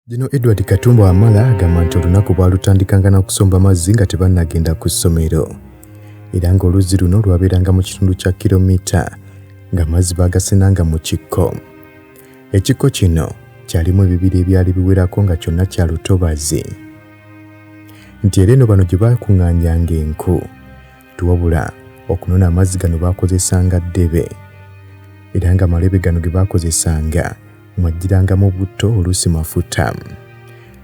Gino Edward Katumba Wamala agamba nti olunaku bwalutandikanga n'okusomba amazzi nga tebannagenda ku ssomero era ng'oluzzi luno lwabeeranga mu kitundu kya kilomita ng'amazzi baagasenanga mu kikko. Ekikko kino kyalimu ebibira ebyali biwerako nga kyonna kya lutobazi nti era eno bano gye baakuŋŋaanyanga enku tuwabula okunona amazzi gano baakozesanga ddebe era nga malebe gano ge baakozesanga mwajjirangamu butto oluusi mafuta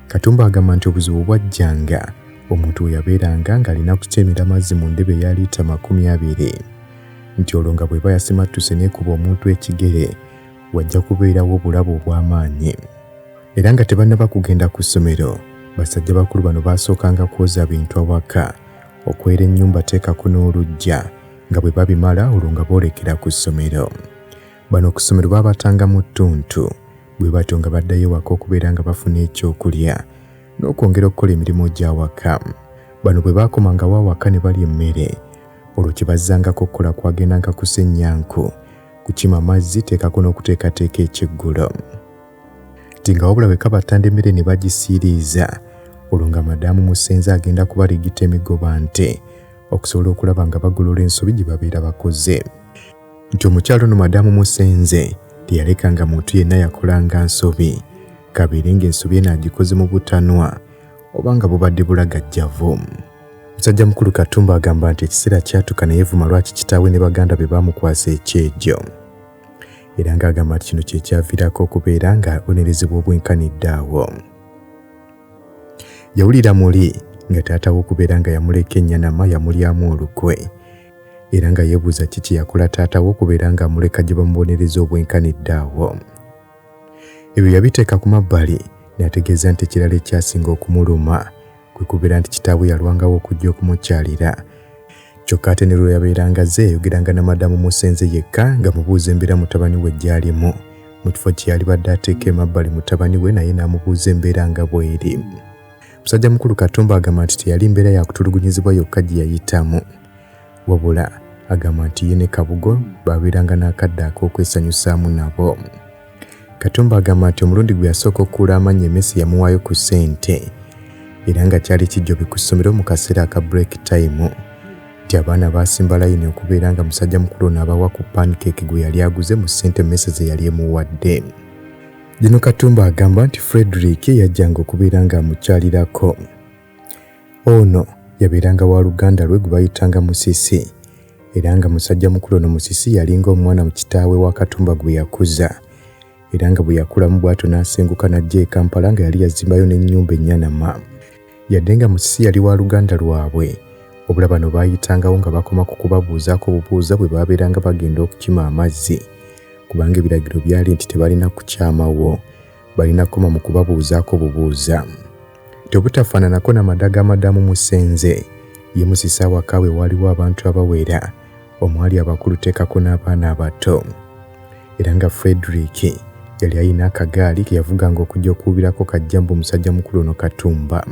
katumba agamba nti obuzibu bwajjanga omuntu we yabeeranga ng'alina kutemera amazzi mu ndebe eya liita makumi abiri nti olwo nga bw'eba yasimattuse n'ekuba omuntu ekigere wajja kubeerawo obulabe obw'amaanyi. Era nga tebannaba kugenda ku ssomero, basajja bakulu bano baasookanga kwoza bintu awaka, okwera ennyumba teekako n'oluggya, nga bwe babimala olwo nga boolekera ku ssomero. Bano ku ssomero baabatanga mu ttuntu, bwe batyo nga baddayo ewaka okubeera nga bafuna ekyokulya n'okwongera okukola emirimu gy'awaka. Bano bwe baakomangawo awaka ne balya emmere, olwo kye bazzangako okukola kwagendanga kusennya nku kukima mazzi teekako n'okuteekateeka ekyeggulo ti nga wabula bwe kaba ttanda emmere ne bagisiiriiza olwo nga madaamu musenze agenda kubaligita emigoba nte okusobola okulaba nga bagolola ensobi gye babeera bakoze nti omukyalo ono madaamu musenze teyaleka nga muntu yenna yakolanga nsobi kabeere ng'ensobi eno agikoze mu butanwa oba nga bubadde bulagajjavu Musajja mukulu Katumba agamba nti ekiseera kyatuka naye vuma lwaki kitaawe ne baganda be baamukwasa ekyejo era ng'agamba nti kino kyekyaviirako okubeera ng'abonerezebwa obwenkanidde awo yawulira muli nga taata we okubeera nga yamuleka ennyanama yamulyamu olukwe era nga yeebuuza ki kye yakola taata we okubeera ng'amuleka gye bamubonereza obwenkanidde awo ebyo yabiteeka ku mabbali n'ategeeza nti ekirala ekyasinga okumuluma kwe kubeera nti kitaabwe yalwangawo okujja okumukyalira kyokka ate ne lwe yabeeranga azze yayogeranga na madamu musenze yekka nga mubuuza embeera mutabani we gy'alimu mu kifo kye yalibadde ateeka emabbali mutabani we naye n'amubuuza embeera nga bw'eri musajja mukulu katumba agamba nti teyali mbeera yakutulugunyizibwa yokka gye yayitamu wabula agamba nti ye ne kabugo baabeeranga n'akadde ak'okwesanyusaamu nabo Katumba agamba nti omulundi gwe yasooka okukuula amannya emessi yamuwaayo ku ssente era nga kyali kijjobi ku ssomero mu kaseera aka break time nti abaana baasimba layini okubeera nga musajja mukulu ono abawa ku pancake gwe yali aguze mu ssente emessi ze yali emuwadde. Gino Katumba agamba nti Frederick yajjanga okubeera ng'amukyalirako. Ono yabeeranga wa luganda lwe gwe bayitanga Musisi era nga musajja mukulu ono Musisi yalinga omwana mu kitaawe wa Katumba gwe yakuza era nga bwe yakulamu bw'atyo n'asenguka n'ajja e Kampala nga yali yazimbayo n'ennyumba ennyanama. Yadde nga Musisi yali wa luganda lwabwe, wabula bano baayitangawo nga bakoma ku kubabuuzaako obubuuza bwe baabeeranga bagenda okukima amazzi kubanga ebiragiro byali nti tebalina kukyamawo. balina koma mu kubabuuzaako bubuuza tebutafaananako na madaga amadamu musenze ye musisa awaka we waliwo abantu abawera omwali abakulu teekako n'abaana abato era nga frederick yali ayina akagaali ke yavuganga okujja okuwubirako kajjambu omusajja mukulu ono katumba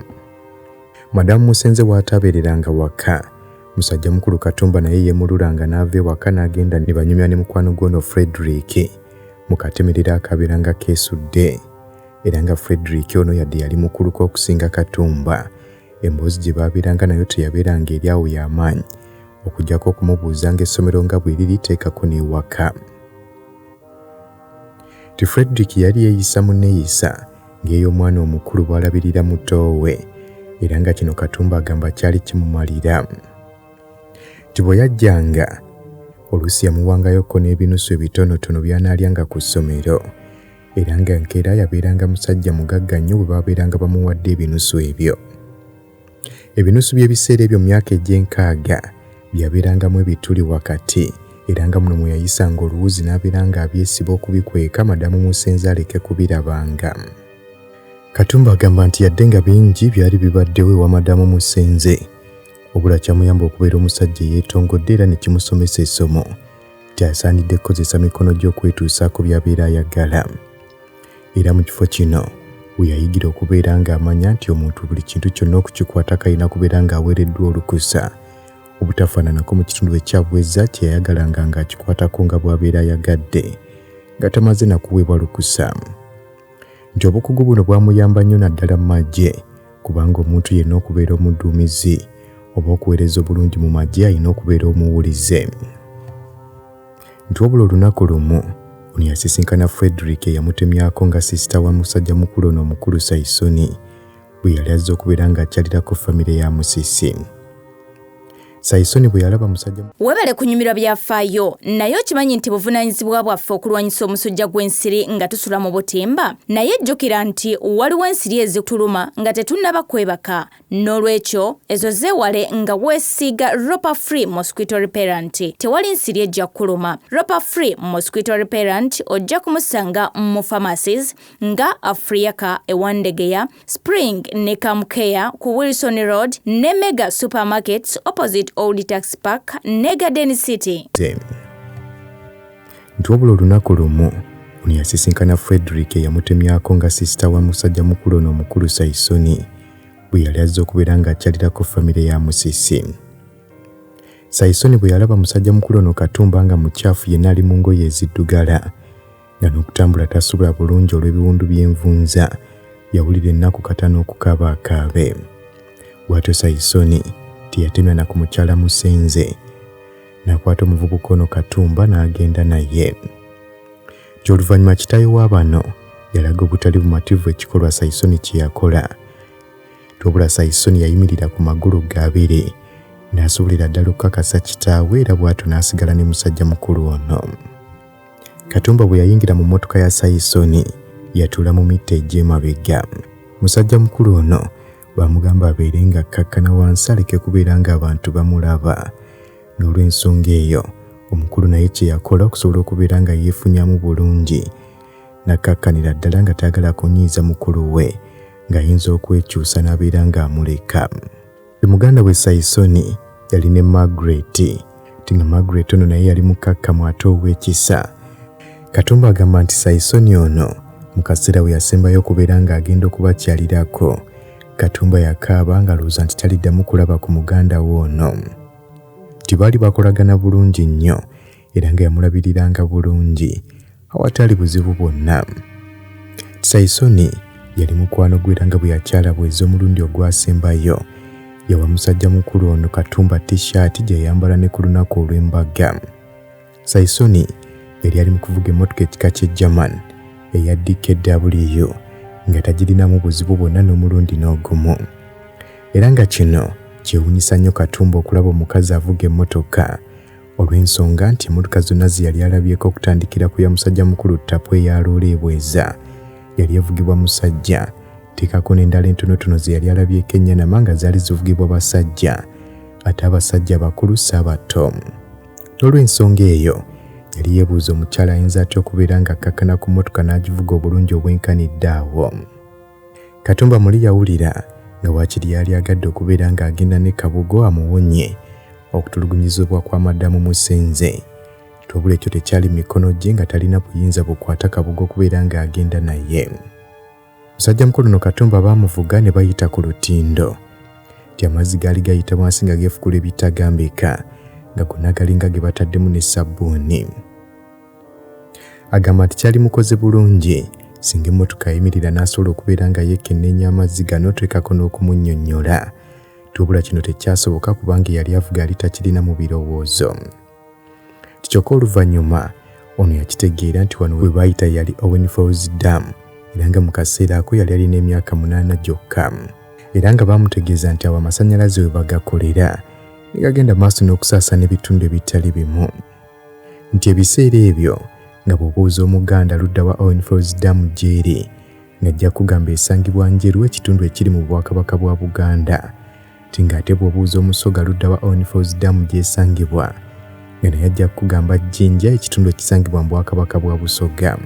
madamu musenze waataabeereranga waka musajja mukulu katumba naye yemululanga n'ava ewaka n'agenda ne banyumya ne mukwano gwono frederick mu katemerero akabeera nga keesudde era nga Frederick ono yadde yali mukuluka okusinga Katumba emboozi gye baabeeranga nayo teyabeeranga eri awo y'amaanyi okujjako okumubuuza ng'essomero nga bwe liri teekako n'ewaka ti Frederick yali yeeyisa mu nneeyisa ng'ey'omwana omukulu bw'alabirira mutoowe era nga kino Katumba agamba kyali kimumalira Nti bwe yajjanga, oluusi yamuwangayoko n'ebinusu ebitonotono by'anaalyanga ku ssomero era nga nkeera yabeeranga musajja mugagga nnyo bwe baabeeranga bamuwadde ebinusu ebyo. Ebinusu by'ebiseera ebyo myaka egy'enkaaga byabeerangamu ebituli wakati era nga muno mwe yayisanga oluwuzi n'abeera ng'abyesiba okubikweka madamu musenze aleke kubirabanga. Katumba agamba nti yadde nga bingi byali bibaddewo ewa madamu musenze, wabula kyamuyamba okubeera omusajja eyeetongodde era ne kimusomesa essomo kyasaanidde kukozesa mikono gy'okwetuusaako by'abeera ayagala era mu kifo kino we yayigira okubeera ng'amanya nti omuntu buli kintu kyonna okukikwata kalina kubeera ng'aweereddwa olukusa obutafaananako mu kitundu ekyabweza kye yayagalanga ng'akikwatako nga bw'abeera ayagadde nga tamaze na kuweebwa lukusa nti obukugu buno bwamuyamba nnyo naddala mu magye kubanga omuntu yenna okubeera omudduumizi oba okuweereza obulungi mu magye alina okubeera omuwulize nti wabula olunaku lumu ono yasisinkana frederick eyamutemyako nga sisita wa musajja mukulu ono omukulu saisoni bwe yali azze okubeera ng'akyalirako famire ya musisi sayisoni bwe yalaba musajja webale kunyumirwa byafaayo naye okimanyi nti buvunaanyizibwa bwaffe okulwanyisa omusujja gw'ensiri nga tusula mu butimba naye jjukira nti waliwo ensiri ezituluma nga tetunnaba kwebaka n'olwekyo ezo zeewale nga weesiiga ropa free mosquito reparent tewali nsiri ejja kukuluma ropa free mosquito reparent ojja kumusanga mu pharmacies nga afriaka ewandegeya Spring ne Camcare ku Wilson Road ne Mega Supermarkets opposite Old Tax Park ne Garden City. Nti wabula olunaku lumu ono yasisinkana Frederick eyamutemyako nga sisita wa musajja mukulu ono omukulu Saisoni bwe yali azze okubeera ng'akyalirako famire ya Musisi. Saisoni bwe yalaba musajja mukulu ono Katumba nga mukyafu yenna ali mu ngoye eziddugala nga n'okutambula tasobola bulungi olw'ebiwundu by'envunza yawulira ennaku kata n'okukaaba akaabe bw'atyo sayisoni teyatemya na ku mukyala musenze n'akwata omuvubuka ono katumba n'agenda naye ky'oluvannyuma kitaawe wa bano yalaga obutali bumativu ekikolwa sayisoni kye yakola tobula sayisoni yayimirira ku magulu gaabiri n'asobolera ddala okukakasa kitaawe era bw'atyo n'asigala ne musajja mukulu ono Katumba bwe yayingira mu mmotoka ya Sayisoni yatuula mu mitta egy'emabega. Musajja mukulu ono baamugamba abeere nga akkakkana wansi aleke kubeera ng'abantu bamulaba. N'olw'ensonga eyo omukulu naye kye yakola okusobola okubeera nga yeefunyamu bulungi n'akkakkanira ddala nga tayagala kunyiiza mukulu we ng'ayinza okwekyusa n'abeera ng'amuleka. E muganda we Saisoni yali ne Margaret ti nga Margaret ono naye yali mukkakkamu ate ow'ekisa. Katumba agamba nti Saisoni ono mu kaseera we yasembayo okubeera ng'agenda okubakyalirako Katumba yakaaba ng'alowooza nti taliddamu kulaba ku muganda we ono. Ti baali bakolagana bulungi nnyo era nga yamulabiriranga bulungi awatali buzibu bwonna saisoni yali mukwano gwe era nga bwe yakyala bweza omulundi ogwasembayo yawa musajja mukulu ono katumba tishaati gye yayambala ne ku lunaku olw'embaga saisoni yali ali mu kuvuga emmotoka ekika ky'e german eya dkw nga tagirinamu buzibu bwonna n'omulundi n'ogumu era nga kino kyewunyisa nnyo katumba okulaba omukazi avuga emmotoka Olw'ensonga nti emmotoka zonna ze yali alabyeko okutandikira ku ya musajja mukulu ttapu eya loola ebweza yali evugibwa musajja teekako n'endala entonotono ze yali alabyeko ennyanama nga zaali zivugibwa basajja ate abasajja abakulu si abato n'olw'ensonga eyo yali yeebuuza omukyala ayinza atya okubeera ng'akkakkana ku mmotoka n'agivuga obulungi obwenkanidde awo Katumba muli yawulira nga wakiri yali agadde okubeera ng'agenda ne Kabugo amuwonye okutulugunyizibwa kwa madamu Musenze. Wabula ekyo tekyali mu mikono gye nga talina buyinza bukwata Kabugo okubeera ng'agenda naye. Musajja mukulu no Katumba baamuvuga ne bayita ku lutindo. Nti amazzi gaali gayita wansi nga geefukula ebitagambika nga gonna galinga ge bataddemu ne ssabbuuni. agamba nti kyali mukoze bulungi singa emmotoka yayimirira n'asobola okubeera nga yeekenneenya amazzi gano twekako n'okumunnyonnyola tubula kino tekyasoboka kubanga eyali avuga yali takirina mu birowoozo kyokka oluvannyuma ono yakitegeera nti wano we baayita yali owen falls dam era nga mu kaseera ako yali alina emyaka munaana gyokka era nga baamutegeeza nti awo amasannyalaze we bagakolera ne gagenda maaso n'okusaasana ebitundu ebitali bimu nti ebiseera ebyo nga bw'obuuza Omuganda ludda wa Owen Falls Dam gy'eri ng'ajja kugamba esangibwa Njeru ekitundu ekiri mu Bwakabaka bwa Buganda nti ng'ate bw'obuuza Omusoga ludda wa Owen Falls Dam gy'esangibwa nga naye ajja kugamba Jinja ekitundu ekisangibwa mu Bwakabaka bwa Busoga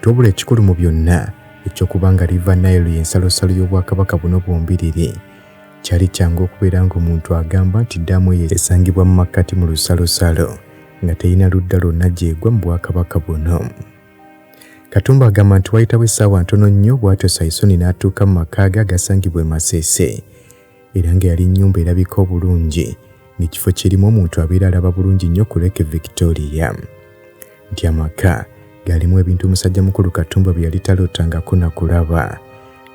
tobula ekikulu mu byonna eky'okuba nga River Nile y'ensalosalo y'Obwakabaka buno bwombiriri Kyali kyangu okubeera ng'omuntu agamba nti ddaamu eyo esangibwa mu makkati mu lusalosalo nga terina ludda lwonna gy'egwa mu bwakabaka buno. Katumba agamba nti wayitawo essaawa ntono nnyo bw'atyo Saisoni n'atuuka mu maka ge agasangibwa e Masese era nga yali nnyumba erabika obulungi ng'ekifo kirimu omuntu abeera alaba bulungi nnyo ku Lake Victoria. nti amaka galimu ebintu musajja mukulu katumba bye yali talootangako na kulaba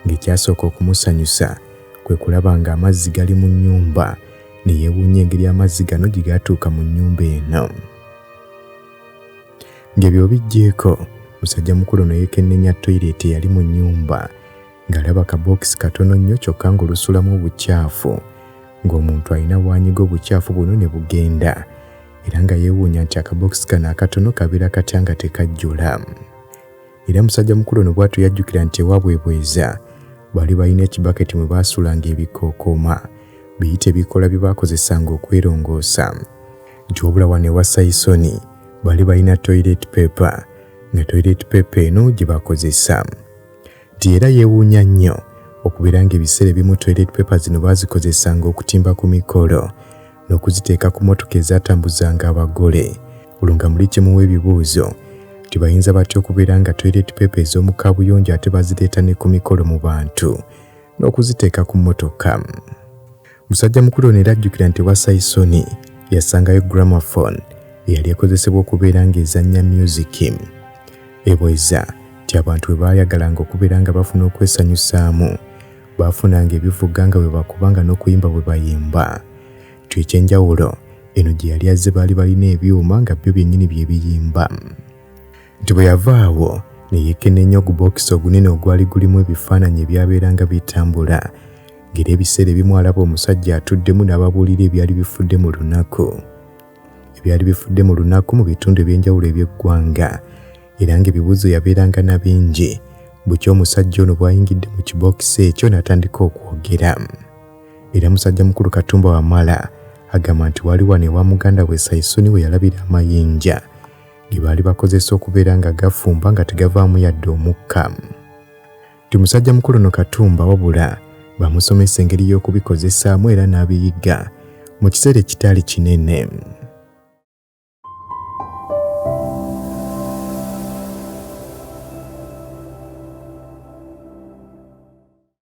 ng'ekyasooka okumusanyusa kwe kulaba ng'amazzi gali mu nnyumba ne yeewuunya engeri amazzi gano gye gaatuuka mu nnyumba eno ng'ebyo bijjeeko musajja mukulu ne yeekennenya toyireeti eyali mu nnyumba ngalaba kabookisi katono nnyo kyokka ng'olusulamu obucaafu ng'omuntu alina waanyiga obucaafu buno ne bugenda era nga yeewuunya nti akabookisi kano akatono kabeera katya nga tekajjula era musajja mukulu ono bwatu yajjukira nti ewaabwe bweza baali balina ekibaketi mwe baasulanga ebikookooma biyite ebikola bye baakozesanga okwerongoosa nti wabula wano ewa sayisoni baali balina toilet paper nga toilet paper eno gye bakozesa nti era yeewuunya nnyo okubeera ng'ebiseera ebimu toilet paper zino baazikozesanga okutimba ku mikolo n'okuziteeka ku motoka ezaatambuzanga abagole olwo nga muli kimuwa ebibuuzo nti bayinza batya okubeera nga toilet paper ez'omu kaabuyonjo ate bazireeta ne ku mikolo mu bantu n'okuziteeka ku motoka Musajja mukulu ono era ajjukira nti wa Saisoni yasangayo gramophone eyali ekozesebwa okubeera ng'ezannya myuziki. Ebweza nti abantu bwe baayagalanga okubeera nga bafuna okwesanyusaamu, baafunanga ebivuga nga bwe bakubanga n'okuyimba bwe bayimba. Nti eky'enjawulo eno gye yali azze baali balina ebyuma nga byo byennyini bye biyimba. nti bwe yava awo ne yeekenneenya ogubookisi ogunene ogwali gulimu ebifaananyi ebyabeeranga bitambula ng'era ebiseera ebimu alaba omusajja atuddemu n'ababuulira ebyali bifudde mu lunaku ebyali bifudde mu lunaku mu bitundu eby'enjawulo eby'eggwanga era ng'ebibuuzo yabeeranga na bingi bukya omusajja ono bw'ayingidde mu kibookisi ekyo n'atandika okwogera era musajja mukulu katumba wamala agamba nti wali wano ewa muganda we saisuni we yalabira amayinja ge baali bakozesa okubeera nga gafumba nga tegavaamu yadde omukka ti musajja mukulu no katumba wabula bamusomesa engeri y'okubikozesaamu era n'abiyigga mu kiseera ekitaali kinene